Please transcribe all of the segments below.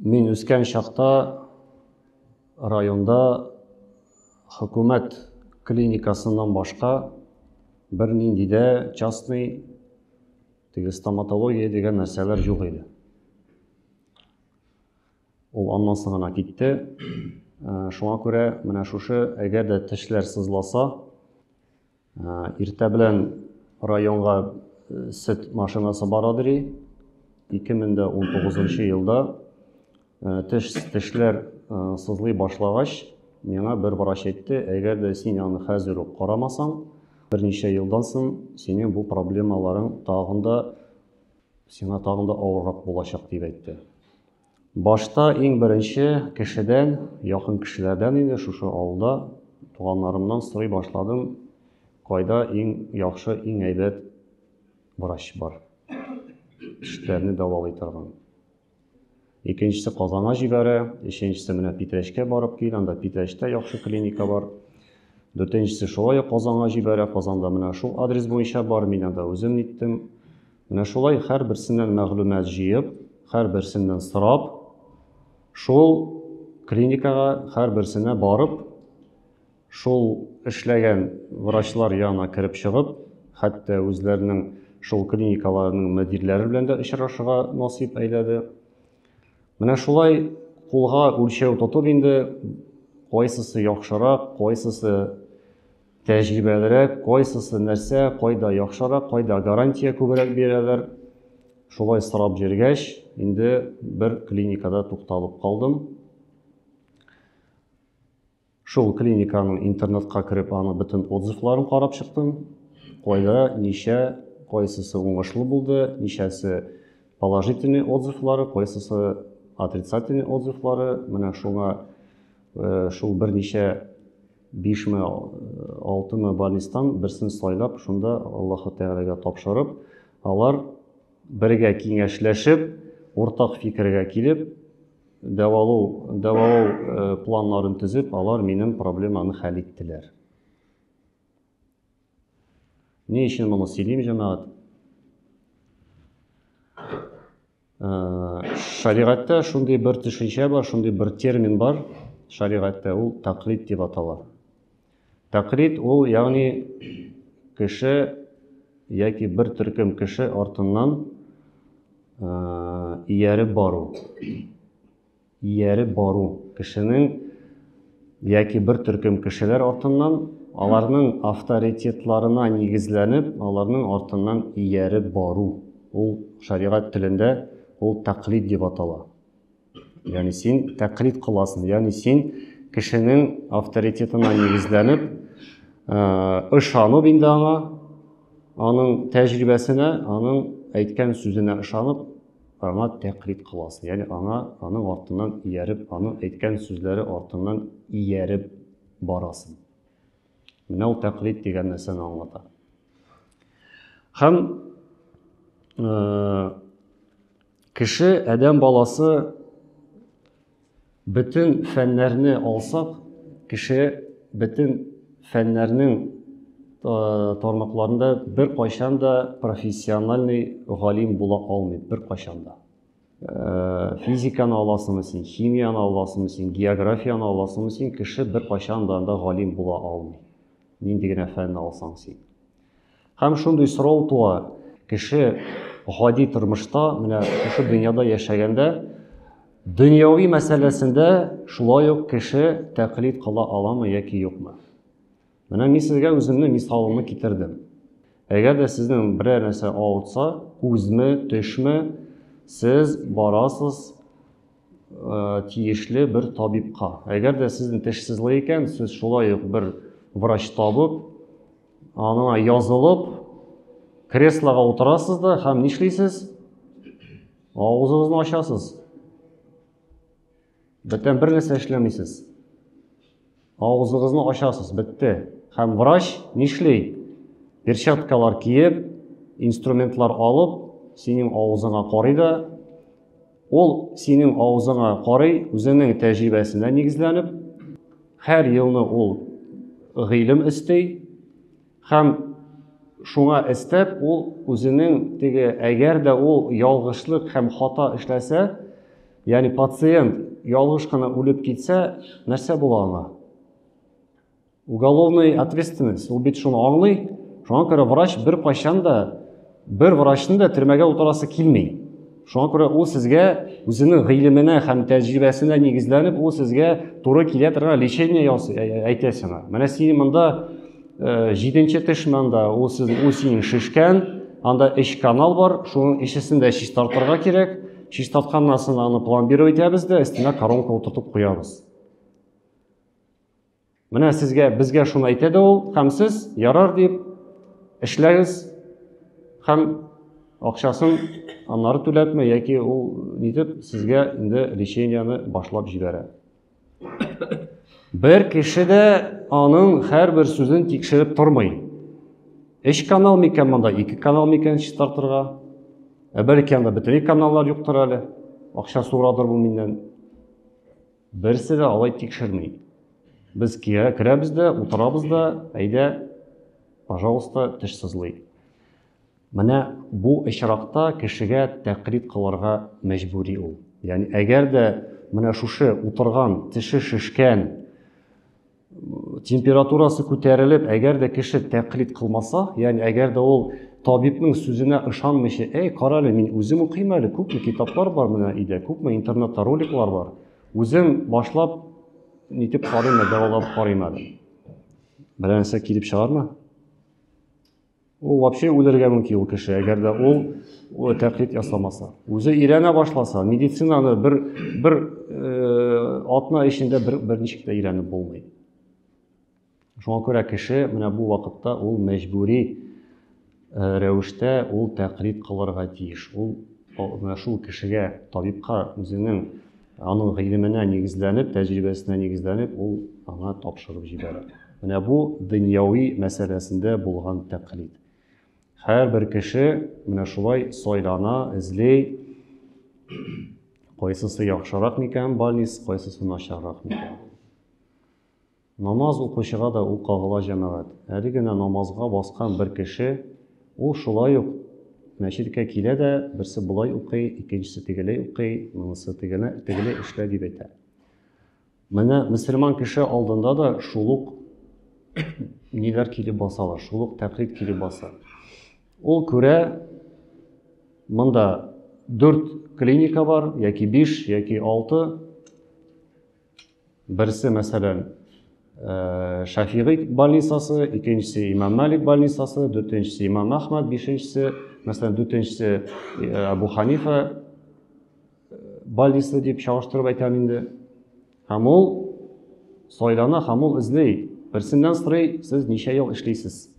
Мин үскән чакта районда хөкүмәт клиникасыннан башка бернинди дә частный теге стоматология дигән нәрсәләр юк иде. Ул аннан соң гына китте. Ә, шуңа күрә менә шушы әгәр дә тешләр сызласа, Иртә белән районга сөт машинасы бара дери. 2019 елда теш тешләр сызлый башлагач, миңа бер врач әйтте, әгәр дә син аны хәзер үк карамасаң, берничә елдан соң синең бу проблемаларың тагын да сиңа тагын да авыррак булачак дип әйтте. Башта иң беренче кешедән, якын кешеләрдән инде шушы авылда туганнарымнан сорый башладым, кайда иң яхшы, иң әйбәт врач бар, тешләрне дәвалый торган. Икенчесе Казанга җибәрә, өченчесе менә Питрәчкә барып кил, анда Питрәчтә яхшы клиника бар. Дүртенчесе шулай ук Казанга җибәрә, Казанда менә шул адрес буенча бар, мин анда үзем ниттем. Менә шулай һәрберсеннән мәгълүмат җыеп, һәрберсеннән сорап, шул клиникага һәрберсенә барып, шул эшләгән врачлар янына кереп чыгып, хәтта үзләренең шул клиникаларының мөдирләре белән дә очрашырга насыйп әйләде. Менә шулай кулга үлчәү тотып инде кайсысы яхшырак, кайсысы Тәҗрибәлерәк, кайсысы нәрсә, кайда яхшырак, кайда гарантия күбрәк бирәләр. Шулай сорап йөргәч, инде бер клиникада тукталып калдым. Шул клиниканың интернетка кереп, аны бөтен отзывларын карап чыктым. Кайда, ничә, кайсысы уңышлы булды, ничәсе положительный отзывлары, кайсысы отрицательный отзывлары. Менә шуңа шул берничә Бишме, алтымы больнистан берсен сайлап, шунда Аллаһы Тәгаләгә тапшырып, алар бергә киңәшләшеп, уртак фикергә килеп, дәвалау, дәвалау э, планнарын төзеп, алар минем проблеманы хәл иттеләр. Ни өчен моны сөйлим, җәмәгать? Шәригатьтә шундый бер төшенчә бар, шундый бер термин бар шәригатьтә, ул тәкълид дип атала. Тәкълид ул, ягъни кеше яки бер төркем кеше артыннан ияреп бару. Ияреп бару, кешенең яки бер төркем кешеләр артыннан, аларның авторитетларына нигезләнеп, аларның артыннан ияреп бару. Ул шәригать телендә ул тәкълид дип атала. Ягъни син тәкълид кыласың, ягъни син кешенең авторитетына нигезләнеп, ышанып инде аңа, аның тәҗрибәсенә, аның әйткән сүзенә ышанып, аңа тәкълид кыласың, ягъни аңа, аның артыннан ияреп, аның әйткән сүзләре артыннан ияреп барасың. Менә ул тәкълид дигән нәрсәне аңлата. Һәм кеше, адәм баласы Бөтен фәннәрне алсак, кеше бөтен фәннәрнең тармакларында бер кайчан да профессиональный галим була алмый, бер кайчан да. Э, физиканы аласыңмы син, химияны аласыңмы син, географияны аласыңмы син, кеше бер кайчан да анда галим була алмый. Нинди генә фәнне алсаң син. Һәм шундый сорау туа, кеше гади тормышта, менә шушы дөньяда яшәгәндә, дөньяви мәсьәләсендә шулай ук кеше тәкълид кыла аламы яки юкмы? Менә мин сезгә үземне мисалымны китердем. Әгәр дә сезнең берәр нәрсә авыртса, күзме, төшме, сез барасыз э, тиешле бер табибка. Әгәр дә сезнең теш сызлый икән, сез шулай ук бер врач табып, аңына язылып креслоға утырасыз да һәм нишлисез авызыгызны ачасыз бөтен бер нәрсә эшләмисез авызыгызны ачасыз бетте һәм врач нишли перчаткалар киеп инструментлар алып синең авызыңа карый да Ул синең авызыңа карый, үзенең тәҗрибәсенә нигезләнеп, һәр елны ул гыйлем эсти һәм шуңа эстәп ул үзенең теге әгәр дә ул ялгышлык һәм хата эшләсә, ягъни пациент ялгыш кына үлеп китсә, нәрсә була аңа? Уголовный ответственность, ул бит шуны аңлый. Шуңа күрә врач бер кайчан да бер врачны да төрмәгә утырасы килми. Шуңа күрә ул сезгә үзенең гыйлеменә һәм тәҗрибәсенә нигезләнеп, ул сезгә туры килә торган лечение ясый, әйтә сиңа. Менә син монда э, җиденче теш монда, ул сез ул синең шешкән, анда эч канал бар, шуның ишесен дә чистартырга кирәк. Чистартканнан соң аны пломбировать итәбез дә, өстенә коронка утыртып куябыз. Менә сезгә, безгә шуны әйтә дә ул, һәм сез ярар дип эшләгез һәм акчасын аннары түләтмә яки ул нитеп сезгә инде лечениене башлап җибәрә. Бер кеше дә аның һәрбер сүзен тикшереп тормый. Эш канал микән монда, ике канал микән чистартырга? Ә бәлки анда бөтенләй каналлар юктыр әле. Акча сорадыр бу миннән. Берсе дә алай тикшерми. Без керәбез дә, утырабыз да, әйдә, пожалуйста, теш сызлый. Менә бу очракта кешегә тәкълид кылырга мәҗбүри ул. Ягъни әгәр дә менә шушы утырган теше шешкән температурасы күтәрелеп, әгәр дә кеше тәкълид кылмаса, ягъни әгәр дә ул табибның сүзенә ышанмыйча, әй, кара әле, мин үзем укыйм әле, күпме китаплар бар менә өйдә, күпме интернетта роликлар бар. Үзем башлап нитеп карыйм, дәвалап карыйм әле. Берәр нәрсә килеп чыгармы? Ул вообще үлергә мөмкин ул кеше, әгәр дә ул тәкълид ясамаса. Үзе өйрәнә башласа, медицинаны бер бер э, атна эчендә бер берничек тә өйрәнеп булмый. Шуңа күрә кеше менә бу вакытта ул мәҗбүри э, рәвештә ул тәкълид кылырга тиеш. Ул менә шул кешегә, табибка үзенең Аның гыйлеменә нигезләнеп, тәҗрибәсенә нигезләнеп, ул аңа тапшырып җибәрә. Менә бу дөньяви мәсьәләсендә булган тәкълид. Һәрбер кеше менә шулай сайлана, эзли, кайсысы яхшырак микән больниц, кайсысы начаррак микән. Намаз укучыга да ул кагыла җәмәгать. Әле генә намазга баскан бер кеше, ул шулай ук мәчеткә килә дә, берсе болай укый, икенчесе тегеләй укый, монысы тегене, тегеләй эшлә дип әйтә. Менә мөселман кеше алдында да шул ук ниләр килеп басалар, шул ук тәкълид килеп баса. Ул күрә, монда дүрт клиника бар, яки биш, яки алты, Берсе, мәсәлән, э, Шафигый больницасы, икенчесе Имам Малик больницасы, дүртенчесе Имам Ахмад, бишенчесе, мәсәлән, дүртенчесе э, Абу Ханифа э, больницасы дип чагыштырып әйтәм инде. Һәм ул сайлана һәм ул эзли. Берсеннән сорый, сез ничә ел эшлисез?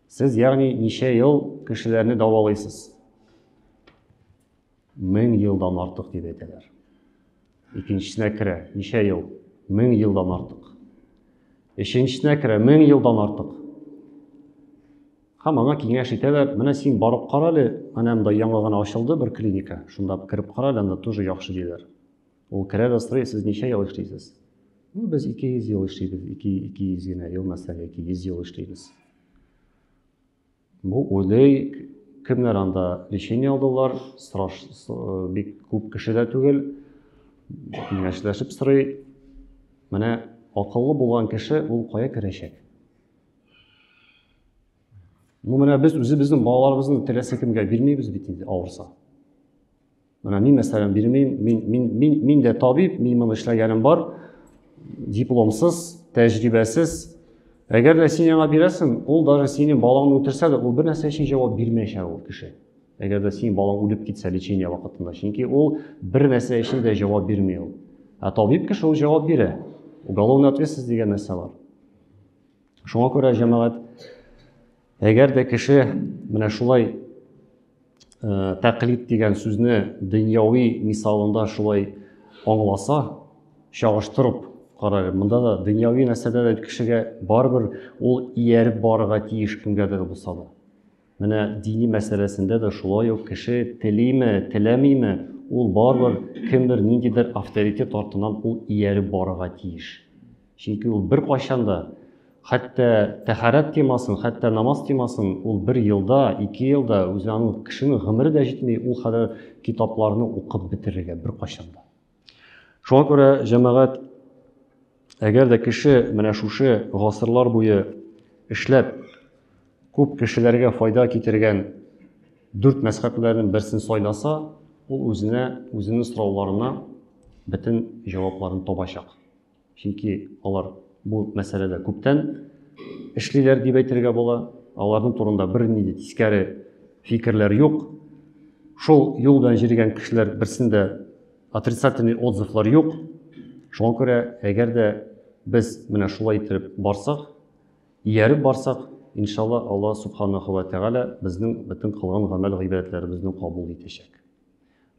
Сез, ягъни, ничә ел кешеләрне дәвалыйсыз? Мең елдан артык дип әйтәләр. Икенчесенә керә, ничә ел? Мең елдан артык. Өченчесенә керә, мең елдан артык. Һәм аңа киңәш итәләр, менә син барып кара әле, менә монда яңа гына ачылды бер клиника, шунда кереп кара әле, анда тоже яхшы диләр. Ул керә дә сорый, сез ничә ел эшлисез? Ну, без 200 ел эшлибез, 200 генә ел мәсәлән, яки 100 ел эшлибез. Бу уйлый, кемнәр анда лечение алдылар, сораш, бик күп кеше дә түгел, киңәшләшеп сорый. Менә акыллы булган кеше ул кая керәчәк? Ну, менә без үзебезнең балаларыбызны теләсә кемгә бирмибез бит инде авырса. Менә мин мәсәлән бирмим, мин мин мин мин дә табиб, мин моны эшләгәнем бар. Дипломсыз, тәҗрибәсез. Әгәр дә син яңа бирәсең, ул даже синең балаңны үтерсә дә, ул бер нәрсә өчен җавап бирмәячәк ул кеше. Әгәр дә синең балаң үлеп китсә лечение вакытында, чөнки ул бер нәрсә өчен дә җавап бирми ул. Ә табиб кеше ул җавап бирә. Уголовная ответственность дигән нәрсә бар. Шуңа күрә җәмәгать Әгәр дә кеше менә шулай э, тәкълид дигән сүзне дөньяви мисалында шулай аңласа, чагыштырып карар. Монда да дөньяви нәрсәдә дә кешегә барыбер ул ияреп барырга тиеш кемгәдер булса да. Менә дини мәсьәләсендә дә шулай ук кеше телиме, теләмиме, ул барыбер кемдер ниндидер авторитет артыннан ул ияреп барырга тиеш. Чөнки ул беркайчан да хәтта тәхарәт темасын, хәтта намаз темасын ул бер елда, ике елда үзе аның кешенең гомере дә җитми ул кадәр китапларны укып бетерергә беркайчан да. Шуңа күрә җәмәгать әгәр дә кеше менә шушы гасырлар буе эшләп күп кешеләргә файда китергән дүрт мәзхәбләрнең берсен сайласа, ул үзенә, үзенең сорауларына бөтен җавапларын табачак. Чөнки алар бу мәсьәләдә күптән эшлиләр дип әйтергә була. Аларның турында берни дә тискәре фикерләр юк. Шул юл белән җиргән кешеләр берсендә отрицательный отзывлар юк. Шуңа күрә, әгәр дә без менә шулай итеп барсак, ияреп барсак, иншалла, Алла субханаху ва тәгалә безнең бөтен кылган гамәл гыйбадәтләребезне кабул итәчәк.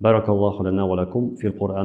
Баракаллаху лана ва лакум фил Куръан